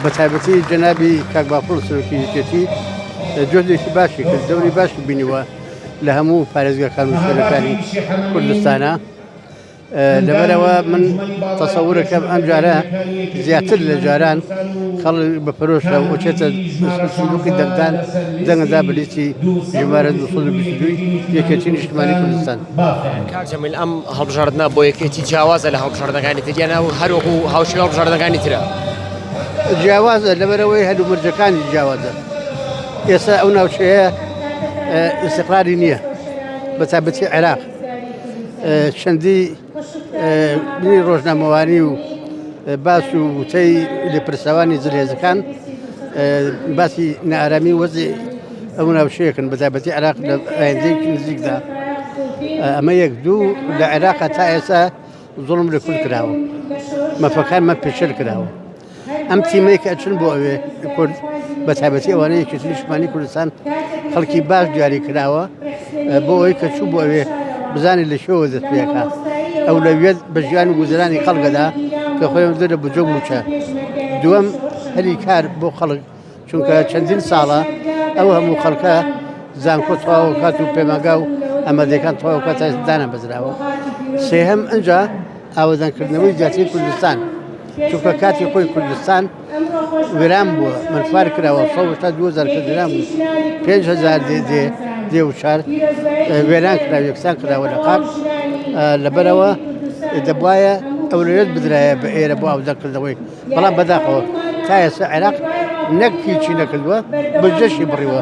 بە تایبەتی جەنابی کاک بافڵ سەرۆکی یەکێتی جۆدێکی باشی کرد دەوری باشی بینیوە لە هەموو پارێزگاکان و شوێنەکانی کوردستانە لەبەرەوە من تەسەورەکەم ئەم جارە زیاتر لە جاران خەڵ بە پرۆشە وچێتە سلوکی دەنگدان دەنگدا بلیتی ژمارە 222 یەکێتی نیشتمانی کوردستان مافیانە. کاک جەمیل ئەم هەڵبژاردنە بۆ یەکێتی جیاوازە لە هەڵبژاردنەکانی تر یان ئەو هەر وەکو هاوشێوەی هەڵبژاردنەکانی ترە؟ جیاوازە لەبەرەوەی هەلومەرجەکانی جیاوازە ئێستا ئەو ناوچەیە ئیسقراری نییە بە تابەتی عێراق چەندی بنی ڕۆژنامەوانی و باس و وتەی لێپرسەوانی زلێزەکان باسی نارامی وەزی ئەو ناوچەیەکن بە تایبەتی عێراق لە ئایندەیەکی نزیکدا ئەمە یەک دوو لە عێراق تا ئێستا زۆڵم لە کورد کراوە مەفەکانمە پێشر کراوە ئەم تیمەی کە ئەچن بۆ ئەوێ کورد بە تایبەتی ئەوانە یەکێتی نیشتمانی کوردستان خەڵکی باش دیاری کراوە بۆ ئەوی کە چوو بۆ ئەوێ بزانانی لە شێوە دەست پێەکە ئەو لەوێت بە ژیان و گوزرانی خەڵگەدا کە خۆیان دەرە بجۆ موچە دووەم هەلی کار بۆ خەڵک چونکە چەندین ساڵە ئەو هەموو خەڵکە زانکۆ تەواوکات و پێماگا و ئەمەدەکان تەواوکە تا دانە بەزراوە سێهەم ئەجا ئاوەدانکردنەوەی زیاتری کوردستان چونکە کاتی خۆی کوردستان وێران بووە منفار کراوە سە تا دو زەرکە درام بوو پێهزار دێ دێ دێ و چار وێران کرا یەکسان کراوە لە قات لەبەرەوە دەبواە ئەولوێت بدرایە بە ئێرە بۆ ئاودەکردەوەی بەڵام بەداخەوە تا ئێستا عێراق نەک هیچی نەکردووە، بودجەشی بڕیوە.